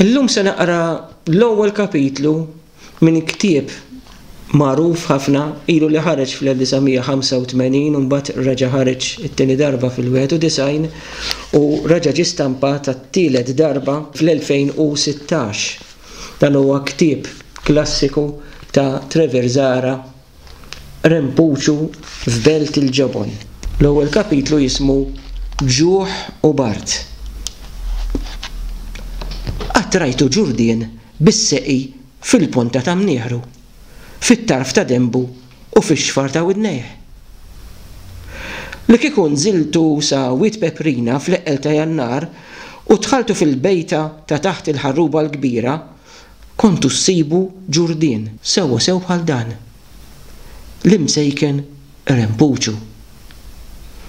Illum se naqra l-ewwel kapitlu minn ktieb magħruf ħafna ilu li ħareġ fl-1985 u mbagħad reġa' ħareġ it-tieni darba fil-91 u reġa' ġie stampat għat-tielet darba fl-2016. Dan huwa ktieb klassiku ta' Trevor Zahra rempuċu f'belt il-ġobon. L-ewwel kapitlu jismu Ġuħ u Bard. Qatt rajtu ġurdien bis-seqi fil-ponta ta' mnieħru, fit-tarf ta' denbu u fix-xfar ta' widnejh? Li kieku nżiltu sa Wied Peprina fl-eqqel ta' Jannar u dħaltu fil-bejta ta' taħt il-ħarruba l-kbira, Kontu ssibu Ġurdien sewwasew bħal dan. L-Imsejken rempuċu.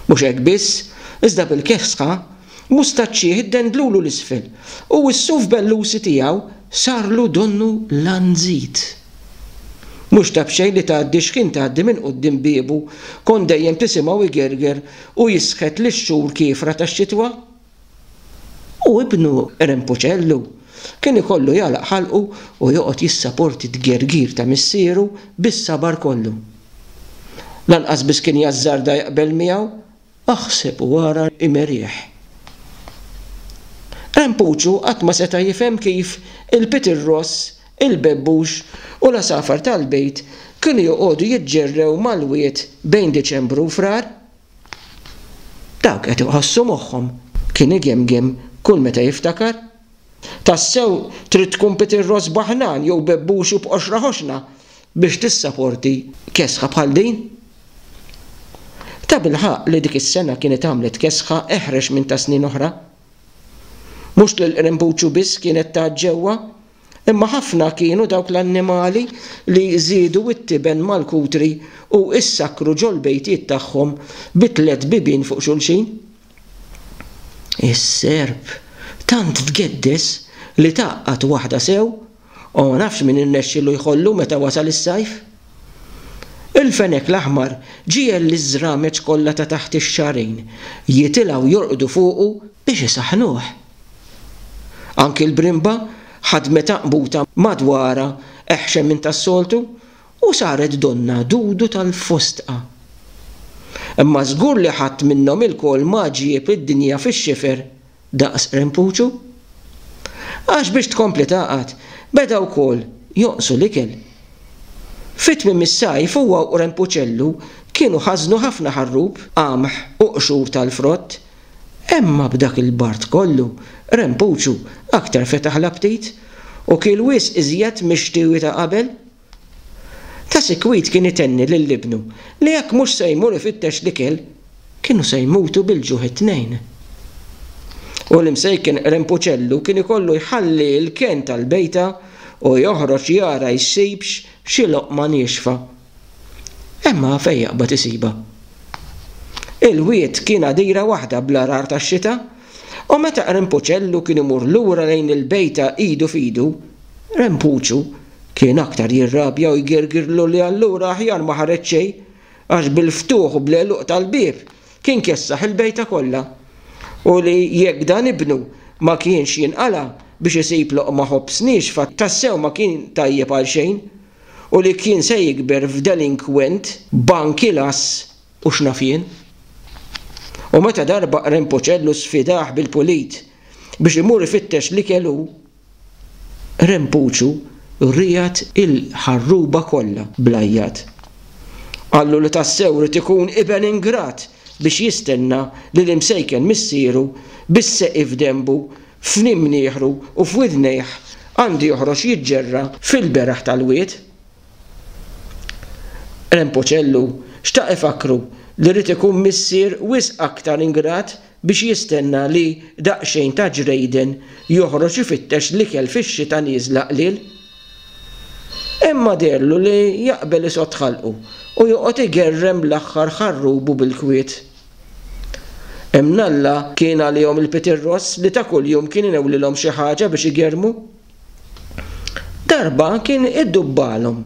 Mhux hekk biss, iżda bil-kefsħa, mustaċċieh iddendlulu 'l isfel u s-suf bellusi tiegħu sarlu donnu lanżit. Mhux ta' b'xejn li tgħaddi x'ħin tgħaddi minn quddiem biebu kont dejjem tisimgħu jgerger u jisħet lix-xhur kiefra tax-xitwa. U ibnu Rempuċellu kien ikollu jagħlaq ħalqu u joqgħod jissaporti t-tgergir ta' missieru bis-sabar kollu. Lanqas biss kien jażżarda jaqbel miegħu, aħseb u ara Imerieħ. Rempuċu qatt ma seta' jifhem kif il-Peter Ross, il-Bebbux u l-għasafar tal-bejt kienu joqogħdu jiġġerrew mal-wied bejn Diċembru u Frar, Dawk qed iħossu moħħhom kien igemgem kull meta jiftakar. Tassew trid tkun Peter Ross Bahnan jew Bebbuxu b'qoxra ħoxna biex tissaporti kesħa bħal din. Tabilħaqq li dik is-sena kienet għamlet kesħa eħrex minn ta' snin oħra. Mhux lil Qrimbuċu biss kienet tagħġġewwa, Imma ħafna kienu dawk l-annimali li żiedu it-tiben mal-kutri u issakkru ġol-bejtiet tagħhom bi tliet bibien fuq xulxin. Is-serp tant tgeddes li tgħaqqad waħda sew, u ma nafx min irnexxielu jħollu meta wasal is-sajf. Il-fenek l-aħmar ġiegħel liż-żrameġ kollha ta' taħt ix-xagħrin jitilgħu jorqdu fuqu biex isaħħnuh. Anki l-brimba ħadmet għaqbuta madwarha eħxen minn tas-soltu u saret donnha Dudu tal-fostqa. Imma żgur li ħadd minnhom ilkoll ma ġieb id-dinja fix-xifer daqs Rempuċu. Għax biex tkompli tgħaqad, beda wkoll jonqsu l-ikel. Fi tmiem is-sajf huwa u Rempuċellu kienu ħażnu ħafna ħarrub, qamħ u qxur tal-frott Emma b'dak il-bard kollu, Rempuċu aktar fetaħ l-aptit u kiel wisq iżjed mix-xtiewi ta' qabel. Ta' sikwit kien itenni lil ibnu li jekk mhux se jmur ifittex l-ikel, kienu se jmutu bil-ġuħ it-tnejn. U l-imsejken Rempuċellu kien ikollu jħalli l-kenn tal-bejta u joħroġ jara jsibx xi loqma niexfa. Imma fejn jaqbad isibha? Il-wied kien għadira waħda bl-għargħar tax-xita, u meta Qrimpuċellu kien imur lura lejn il-bejta idu f'idu, Rempuċu kien aktar jirrabja u jgirgirlu li allura aħjar ma ħareġ xejn, għax bil-ftuħ u bl-għeluq tal-bieb kien kessaħ il-bejta kollha, u li jekk dan ibnu ma kienx jinqala' biex isib loqma ħobż niexfa tassew ma kien tajjeb għal xejn. u li kien se jikber f'delinkwent bankilass u x'naf jien. U meta darba qren Puċellu sfidah bil-pulit biex imur ifittex l-ikel hu, qren Puċu riegħed il-ħarruba kollha bl-għajjat. Qallu li tassew irid ikun iben ingrat biex jistenna li l-imsejken missieru bis-seqi f'denbu, f'imnieħru u f'widnejh għandu joħroġ jiġġerra fil-beraħ tal-wied? Rempoċellu xtaq ifakkru li jrid ikun missier wisq aktar ingrat biex jistenna li daqsxejn ta' ġrejden joħroġ ifittex l-ikel fix-xita nieżla qliel. Imma deherlu li jaqbel isgħodd ħalqu u joqgħod igerrem l-aħħar ħarrubu bil-kwiet. Imnalla kien għalihom il-Peter Ross li ta' kuljum kien inewwlilhom xi ħaġa biex igerrmu. Darba kien iddubbalhom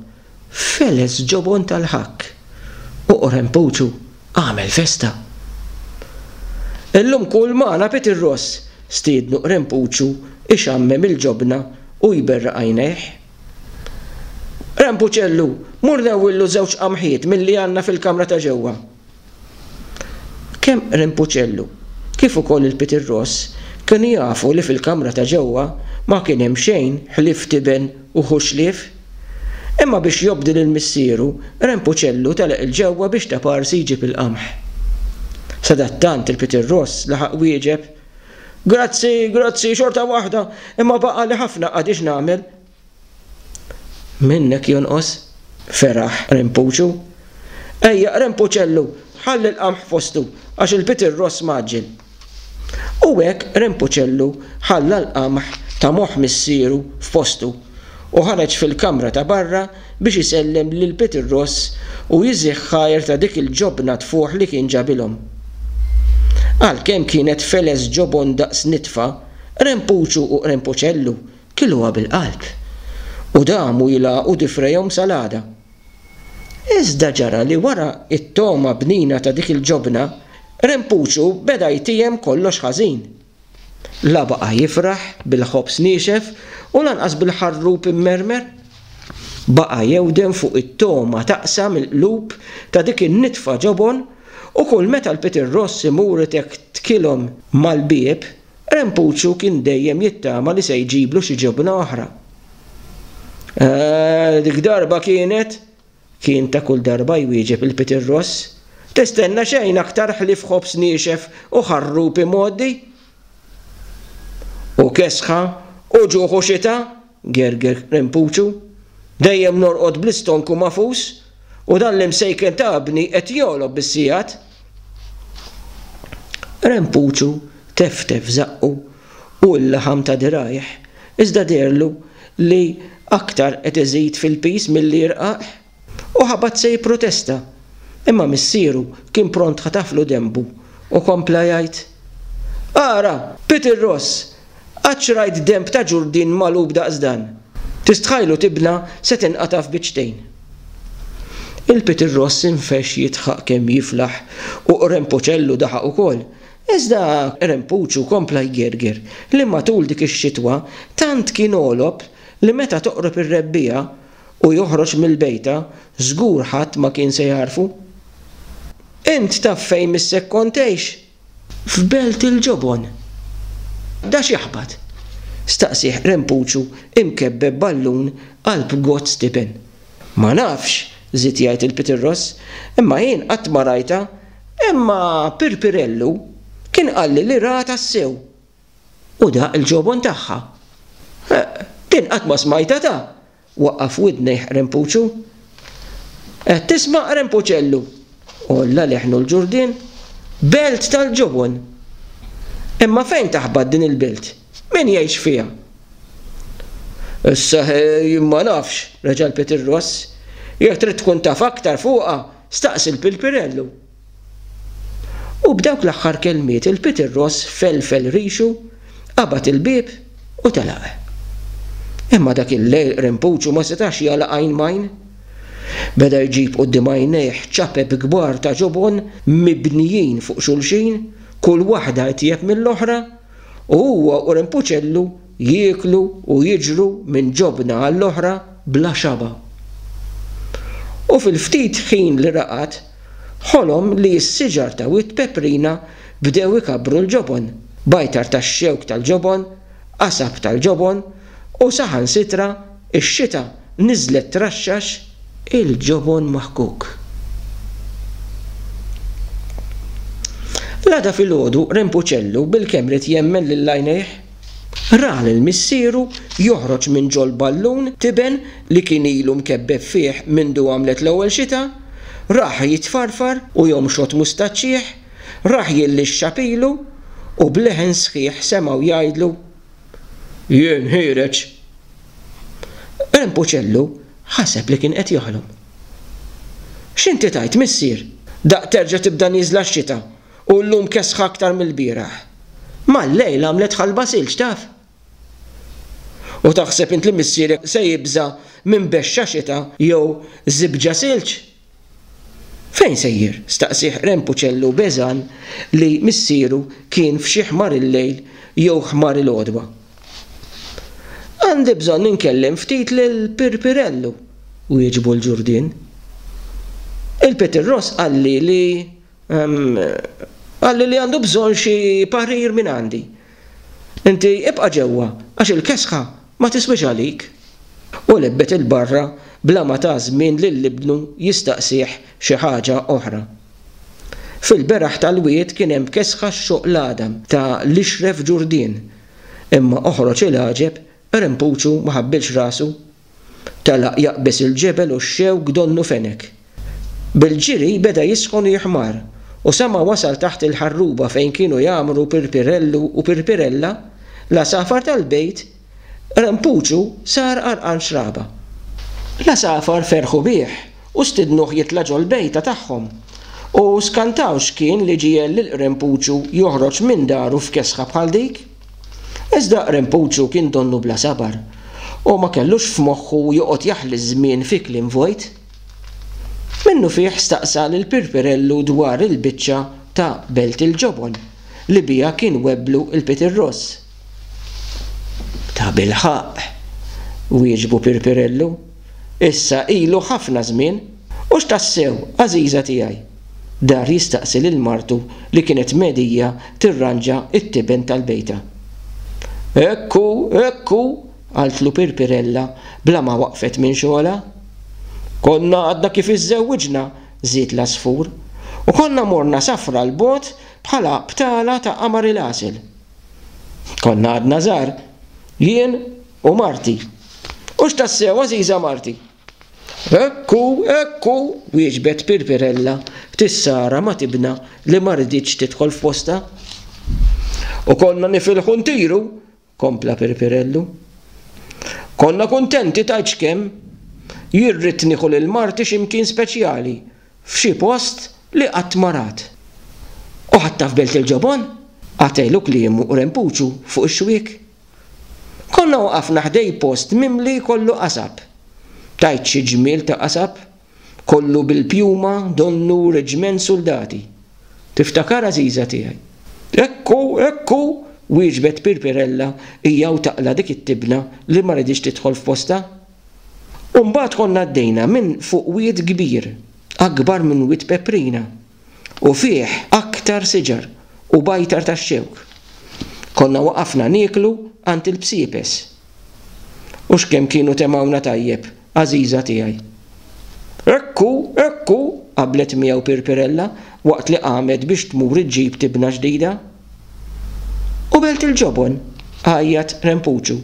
feles ġobon tal-ħakk u qorempuċu. Agħmel festa! Illum kul magħna Pit ir-Ross, stiednu Qrempuċu ixammem il-ġobna u jberraq għajnejh. Qrempuċellu, mur newwillu żewġ qamħiet milli għandna fil-kamra ta' ġewwa. Kemm Qrempuċellu kif ukoll il-Pit ir-Ross kienu jafu li fil-kamra ta' ġewwa ma kien hemm xejn ħlief tiben u ħuxlief. Imma biex jobdi lil missieru, Rempuċellu telaq 'il ġewwa biex ta' parsi jġib il-qamħ. Sadattant il-Peter Ross laħaq wieġeb, Grazzi, grazzi, xorta waħda, imma baqgħali ħafna qagħdi x'nagħmel. Minnek jonqos, feraħ Rempuċu. Ejja, Rempuċellu, ħalli l-qamħ fostu, għax il-Peter Ross mgħaġġel. U hekk Rempuċellu ħalla l-qamħ ta' moħħ missieru f'postu u ħareġ fil-kamra ta' barra biex isellem lil Pitirross u jiżigh ħajr ta' dik il-ġobna tfuħ li kien ġabilhom. Għalkemm kienet feles ġobon daqs nitfa, Rempuċu u Rempuċellu kilgħuha bil-qalb u damu jilagħqu difrejhom sal-għada. Iżda ġara li wara t-togħma bnina ta' dik il-ġobna, Rempuċu beda jtiehem kollox ħażin. La baqa' jifraħ bil-ħobż niexef u lanqas bil-ħarrub immermer. Baqa' jewden fuq it-togħma taqsam il-qlub ta' dik in-nitfa ġobon u kull meta l-pitir ross imur itektkilhom mal-bieb, Rempuċċu kien dejjem jittama li se jġiblu xi ġobna oħra. Eh, dik darba kienet, kien ta' kull darba jwieġeb il-Peter Ross, tistenna xejn aktar ħlief ħobż niexef u ħarrub imgħoddi. U kesħa u ġuħu xita Gerger Rempuċu, Dejjem norqod bl-istonku magħfus u dan l-imsejken ta' ibni qed jogħlob bis-sigħat. Rempuċu teftef żaqqu u l-laħam ta' dirgħajh iżda deherlu li aktar qed iżid fil-piż milli jirqaq. U ħabat se jipprotesta, imma missieru kien pront ħataflu denbu u kompla jgħid, Ara, Peter Ross, qatt x'rajt denb ta' ġurdien magħlub daqs dan! Tistħajlu tibna se tinqata' f'biċċtejn! Il-Peter Ross infexx jidħaq kemm jiflaħ u Rempuċellu daħaq ukoll, iżda Rempuċu kompla jgerger li matul dik ix-xitwa tant kien għolob li meta toqrob ir-rebbiegħa u joħroġ mill-bejta, żgur ħadd ma kien se jagħrfu. Int taf fejn missek kont tgħix? F'Belt il-Ġobon. Da x'jaħbat? staqsieh Rempuċu imkebbeb ballun qalb goat stipen. Ma nafx, żied jgħid il-Pitirross, imma jien qatt ma rajtha, imma Pirpirellu kien qalli li raha tassew. U daqq il-ġobon tagħha. Eqq! Din qatt ma smajtha ta! waqqaf widnejh Rempuċu. Qed tisma', Rempuċellu? għolla leħnu l-Ġurdien. Belt tal-ġobon! Imma fejn taħbat din il-belt? Min jgħix fiha? Issa ħe jien ma nafx, reġa' lpiet ir-Ross. Jekk trid tkun taf aktar fuqha, staqsi l-Pilpirellu. U b'dawk l-aħħar kelmiet il-Peter Ross felfel rixu, qabad il-bieb u telaq. Imma dak il-lejl Qrimpuċu ma setax jagħlaq għajn m'għajn. Beda jġib quddiem għajnejh ċapep kbar ta' ġobon mibnijin fuq xulxin, kull waħda itjeb mill-oħra, u huwa u Qrimpuċellu jieklu u jiġru minn ġobna għall-oħra bla xaba'. U fil-ftit ħin li raqad, Ħolom li s-siġar ta' wied peprina bdew ikabbru l-ġobon, bajtar tax-xewk tal-ġobon, qasab tal-ġobon, u saħansitra x-xita niżlet traxxax il-ġobon maħkuk. L-għada filgħodu Rempuċellu bilkemm ried jemmen lil għajnejh. Ra lil missieru joħroġ minn ġol-ballun tiben li kien ilu mkebbeb fih mindu għamlet l-ewwel xita, rah jitfarfar u jomxot mustaċċieh, rah jillixxa pilu, u b'leħen sħiħ semgħu jgħidlu, Jien ħiereġ! Rempuċellu ħaseb li kien qed joħlom. X'inti tgħid, missier? Daqq terġa' tibda nieżla x-xita! u llum kesħa aktar mill-bieraħ. Mal-lejl għamlet ħalba silġ, taf? U taħseb int li missierek se jibża' minn bexxa xita jew żibġa silġ? Fejn sejjer? staqsieh Ren Puċellu b'għeżan li missieru kien f'xi ħmar il-lejl jew ħmar il-għodwa. Għandi bżonn inkellem ftit lil Pirpirellu, wieġbu l-Ġurdien. Il-Pitirross qalli li Qalli li għandu bżonn xi parir mingħandi. Inti ibqa' ġewwa għax il-kesħa ma tiswiex għalik. U lebbet 'il barra bla ma ta żmien lil ibnu jistaqsih xi ħaġa oħra. Fil-beraħ tal-wied kien hemm kesħa x-xoq l-għadam ta' l-ixref ġurdien, imma oħroġ il-għaġeb, Rempuċu ma ħabbilx rasu. Telaq jaqbeż il-ġebel u x-xewk donnu fenek. Bil-ġiri beda jisħon u jiħmar, u sa ma wasal taħt il-ħarruba fejn kienu jgħammru Pirpirellu u Pirpirella, l-għasafar tal-bejt, Rempuċu sar għarqan xraba. L-għasafar ferħu bih u stidnuh jitla' ġol-bejta tagħhom, u skantaw x'kien li ġiegħel lil Rempuċu joħroġ minn daru f'kesħa bħal dik. Iżda Rempuċu kien donnu bla sabar u ma kellux f'moħħu joqgħod jaħli ż-żmien fi kliem vojt. Minnufih staqsa lil Pirpirellu dwar il-biċċa ta' Belt il-Ġobon li biha kien webblu l-Peter Ross. Tabilħaqq! wieġbu Pirpirellu. Issa ilu ħafna żmien! Hux tassew, għażiża tiegħi? dar jistaqsi lil martu li kienet mhedija tirranġa t-tiben tal-bejta. Hekk hu, hekk hu, qaltlu Pirpirella bla ma waqfet minn xogħolha. Konna għadna kif iżżewwiġna, żied l-għasfur, u konna morna safra 'l bogħod bħala btala ta' qamar il-għasel. Konna għadna żgħar, jien u marti. Hux tassew, għażiża marti? Hekk hu, hekk hu, wieġbet Pirpirella, ftit sara ma' tibna li ma riditx tidħol f'postha. U konna nifilħu ntiru, kompla Pirpirellu. Konna kuntenti tgħid x'kemm. Jien ridt nieħu lil marti xi mkien speċjali, f'xi post li qatt ma rat. U ħadtha f'Belt il-Ġobon? Qatgħelu kliemu u rempuċu fuq ix-xwiek. Konna waqafna ħdej post mimli kollu qasab. Tgħid xi ġmiel ta' qasab! Kollu bil-pjuma, donnu, reġiment suldati. Tiftakar għażiża tiegħi? Ekku, ekku! wieġbet Pirpirella hija u taqla' dik it-tibna li ma riditx tidħol f'postha. U mbagħad konna għaddejna minn fuq wied kbir, akbar minn wied Peprina. u fih aktar siġar u bajtar tax-xewk. Konna waqafna nieklu għand il-bsiepes. U x'kemm kienu temgħuna tajjeb, għażiża tiegħi! Hekk hu, hekk hu! qablet miegħu Pirpirella waqt li qamet biex tmur iġġib tibna ġdida. U belt il-ġobon! għajjat Rempuċu.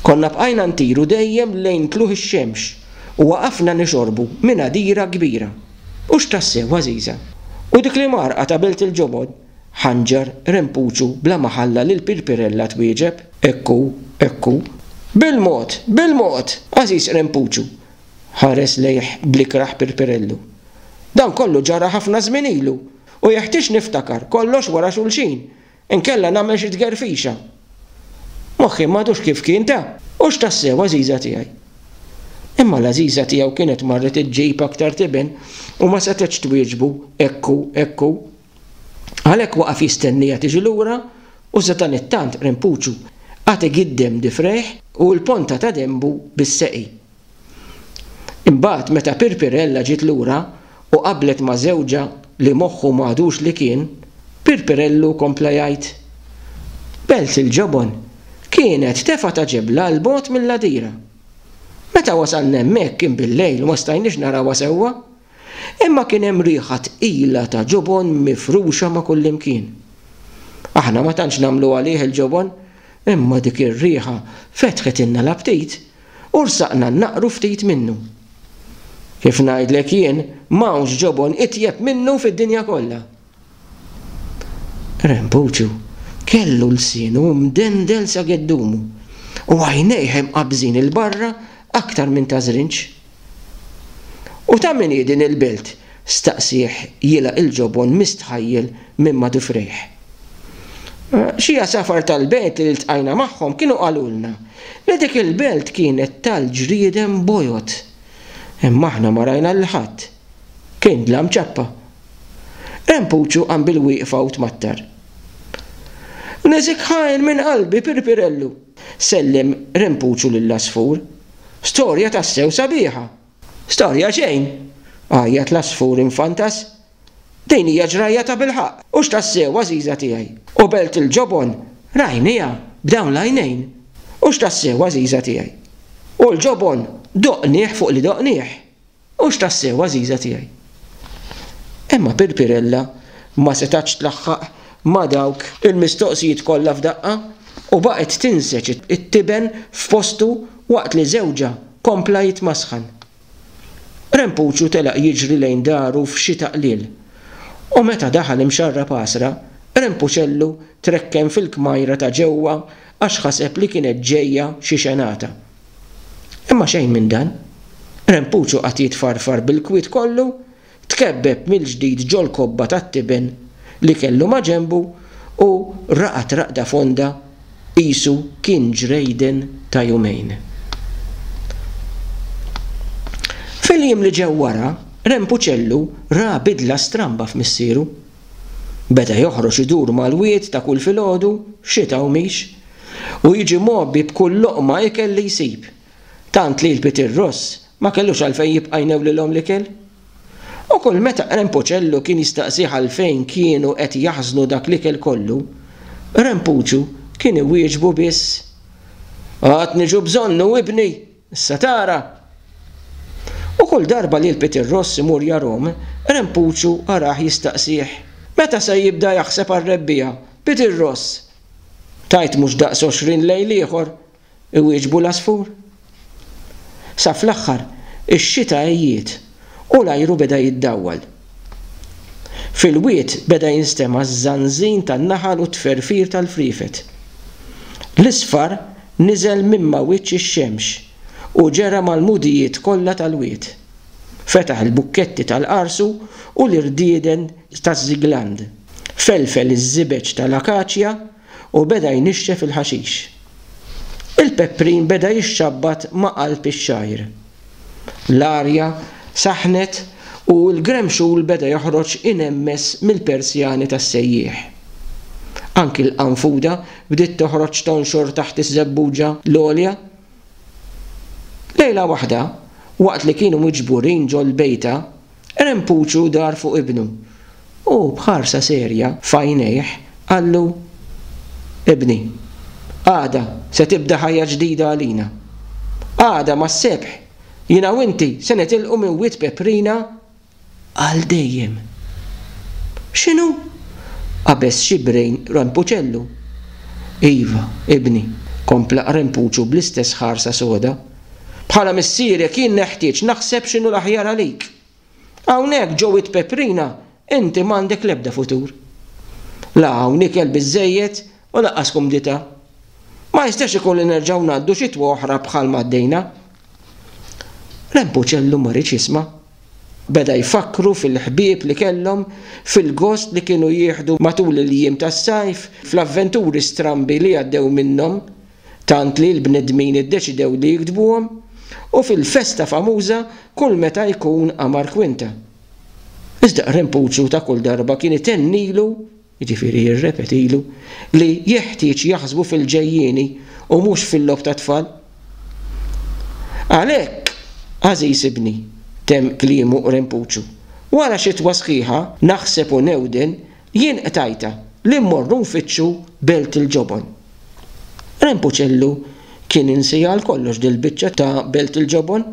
Konna bqajna ntiru dejjem lejn tlugħ ix-xemx u waqafna nixorbu minn għadira kbira. Hux tassew għażiża! U dik l-imgħarrqa ta' belt il-ġobon? ħanġar Rempuċu bla ma ħalla lil Pirpirella twieġeb. Hekk hu, hekk hu. Bil-mod, bil-mod, għażiż Rempuċu! ħares lejh bl-ikrah Pirpirellu. Dan kollu ġara ħafna żmien ilu! U jeħtieġ niftakar kollox wara xulxin, inkella nagħmel xi tgerfixa. Moħħi m'għadux kif kien ta', Hux tassew għażiża tiegħi? Imma l-għażiża tiegħu kienet marret iġġib aktar tiben u ma setgħetx twieġbu, Hekk hu, hekk hu. Għalhekk waqaf jistennieha tiġi lura u sadanittant Rimpuċu għad igiddem difrejh u l-ponta ta' denbu bis-seqi. Imbagħad meta Pirpirella ġiet lura u qablet ma' żewġha li moħħu m'għadux li kien, Pirpirellu kompla jgħid, Belt il-Ġobon kienet tefgħa ta' ġebla 'l bogħod mill-għadira. Meta wasalna hemmhekk kien bil-lejl u ma stajniex narawha sewwa, imma kien hemm riħa tqila ta' ġobon mifruxa ma' kullimkien. Aħna ma tantx nagħmlu għalih il-ġobon, imma dik ir-riħa fetħitilna l-aptit U rsaqna naqru ftit minnu. Kif ngħidlek jien, m'hawnx ġobon itjeb minnu fid-dinja kollha. Rempuċċu kellu lsienu mdendel sa geddumu u għajnejh imqabbżin 'il barra aktar minn ta' żrinġ. U ta' min hi din il-belt? staqsieh jilgħaq il-ġobon mistħajjel minn Madufrejh. Xi għasafar tal-belt li ltqajna magħhom kienu qalulna li dik il-belt kienet tal-ġrieden bojod. Imma aħna ma rajna lil ħadd. Kien dlam ċappa. Rempuċu qam bil-wieqfa u tmattar. Neżikħa għin minn qalbi, Pirpirellu! sellem Rempuċu lill-għasfur. Storja tassew sabiħa! Storja xejn! għajjat l-għasfur infantas. Din hija ġrajja tabilħaqq! Hux tassew, għażiża tiegħi! U belt il-ġobon, Rajniha b'dawn l-għajnejn! Hux tassew, għażiża tiegħi! U l-ġobon, doqnih fuq li doqnih! Hux tassew, għażiża tiegħi. Imma Pirpirella ma setgħatx tlaħħaq ma' dawk il-mistoqsijiet kollha f'daqqa u baqgħet tinseġ it-tiben f'postu waqt li żewġha kompla jitmasħan. Rempuċu telaq jiġri lejn daru f'xita qliel u meta daħal imxarrab għasra, Rempuċellu trekken fil-kmajra ta' ġewwa għax ħaseb li kienet ġejja xi xenata. Imma xejn minn dan. Rempuċu qagħad jitfarfar bil-kwiet kollu, tkebbeb mill-ġdid ġol-kobba tat-tiben li kellu maġenbu u raqad raqda fonda qisu kien ġrejden ta' jumejn. Fil-jiem li ġew wara, Rempuċellu ra bidla stramba f'missieru. Beda joħroġ idur mal-wied ta' kull filgħodu, xita u mhix, u jiġi mgħobbi b'kull loqma ikel li jsib, tant li l-pitir ross ma kellux għalfejn jibqa' jnewwlilhom l-ikel. U kull meta Qren Puċellu kien jistaqsih għalfejn kienu qed jaħżnu dak l-ikel kollu, Qren Puċu kien iwieġbu biss, Għad niġu bżonnu, ibni! Issa tara! U kull darba li l-pitir ross imur jargħum, Qren Puċu arah jistaqsih, Meta se jibda jaħseb għar-rebbiegħa, pitir ross? Tgħid mhux daqs għoxrin lejl ieħor, iwieġbu l-għasfur. Sa fl-aħħar, ix-xita għejjiet u l-ajru beda jiddawwal. Fil-wied beda jinstema' ż-żanżin tan-naħal u t-tferfir tal-friefet. L-isfar niżel minn ma' wiċċ ix-xemx u ġera mal-għmudijiet kollha tal-wied. Fetaħ il-bukketti tal-qarsu u l-irdieden taż-żigland. Felfel iż-żibeġ tal-akaċja u beda jnixxef il-ħaxix. Il-peprin beda jixxabbat ma' qalb ix-xgħir. L-arja saħħnet u l-gremxul beda joħroġ inemmess mill-persjani tas-sejjieħ. Anki l-qanfuda bdiet toħroġ tonxor taħt iż-żebbuġa l-għolja. Lejla waħda, waqt li kienu miġburin ġol-bejta, Rempuċu dar fuq ibnu u b'ħarsa serja f'għajnejh qallu, Ibni, għada se tibda ħajja ġdida għalina. Għada mas-sebħ jiena u inti se nitilqu minn Wied Peprina għal dejjem. X'inhu? qabeż xi brejn Rempuċellu. Iva, ibni, kompla Rempuċu bl-istess ħarsa soda. Bħala missierek jien neħtieġ naħseb x'inhu l-aħjar għalik. Hawnhekk ġo Wied Peprina inti m'għandek l-ebda futur. La hawn ikel biżżejjed u lanqas kumdità. Ma jistax ikun li nerġgħu ngħaddu xitwa oħra bħalma għaddejna. Rempuċellu ma riedx jisma'. Beda jfakkru fil-ħbieb li kellhom, fil-gost li kienu jieħdu matul il-jiem tas-sajf, fl-avventuri strambi li għaddew minnhom, tant li l-bnedmin iddeċidew li jiktbuhom, u fil-festa famuża kull meta jkun qamar kwinta. Iżda Qren Puċu ta' kull darba kien itennilu, jiġifieri jirrepetilu, li jeħtieġ jaħsbu fil-ġejjieni u mhux fil-logħob tat-tfal. Għalhekk, għażiż ibni, temm kliemu Qren Puċu, wara xitwa sħiħa, naħseb u newden Jien qtajtha li mmorru nfittxu belt il-ġobon. Rempuċellu kien insiha għal kollox dil-biċċa ta' belt il-ġobon.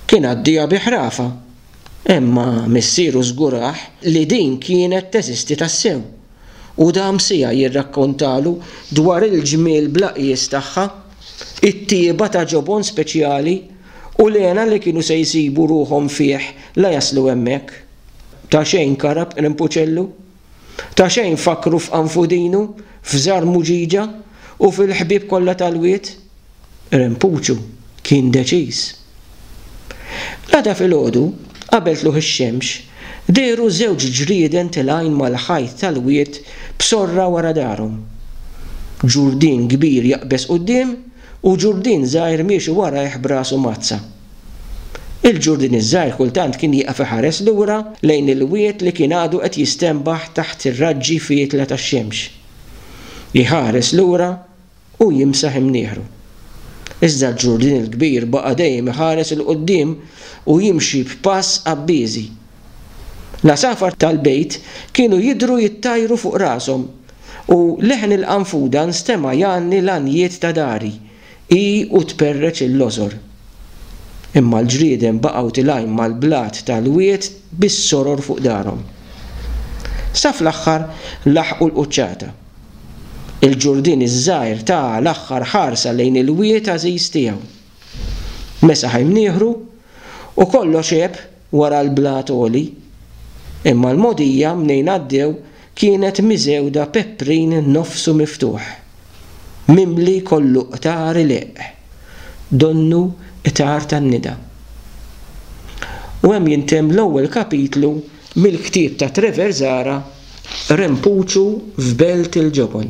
Kien għaddiha bi ħrafa. Imma missieru żgurah li din kienet teżisti tassew. U dam siegħa jirrakkontalu dwar il-ġmiel bla qies tagħha, it-tjieba ta' ġobon speċjali u l-hena li kienu se jsibu ruħhom fih la jaslu hemmhekk. Ta' xejn karab Rimpuċellu, ta' xejn fakkru f'Qanfudinu, f'Żar Muġiġa u fil-ħbieb kollha tal-wied. Rimpuċu kien deċiż. L-għada filgħodu, qabel tlugħ ix-xemx, dehru żewġ ġrieden tilgħin mal-ħajt tal-wied b'sorra wara darhom. Ġurdien kbir jaqbeż quddiem u ġurdien żgħir miexi warajh b'rasu mgħaddsa. Il-ġurdien iż-żgħir kultant kien jieqaf iħares lura lejn il-wied li kien għadu qed jistenbaħ taħt ir-raġġi fietla tax-xemx. Iħares lura u jimsaħ imnieħru. Iżda l-ġurdien il-kbir baqa' dejjem iħares 'il quddiem u jimxi b'pass qabbieżi. L-għasafar tal-bejt kienu jidhru jittajru fuq rashom u leħen il-qanfuda nstema' jgħanni l-għanjiet ta' dari. Hi u tperreċ il-lożor. Imma l-ġrieden baqgħu tilgħin mal-blat tal-wied bis-soror fuq darhom. Sa fl-aħħar laħqu l-quċċata. Il-Ġurdien iż-żgħir ta l-aħħar ħarsa lejn il-wied għażiż tiegħu. Mesaħ imnieħru u kollox għeb wara l-blat għoli, imma l-mogħdija mnejn għaddew kienet miżewda peprin nofsu miftuħ, mimli kollu qtar ileqq, donnu qtar tan-nida. U hemm jintemm l-ewwel kapitlu mill-ktieb ta' Trevor Zahra Rempuċu f'Belt il-Ġobon.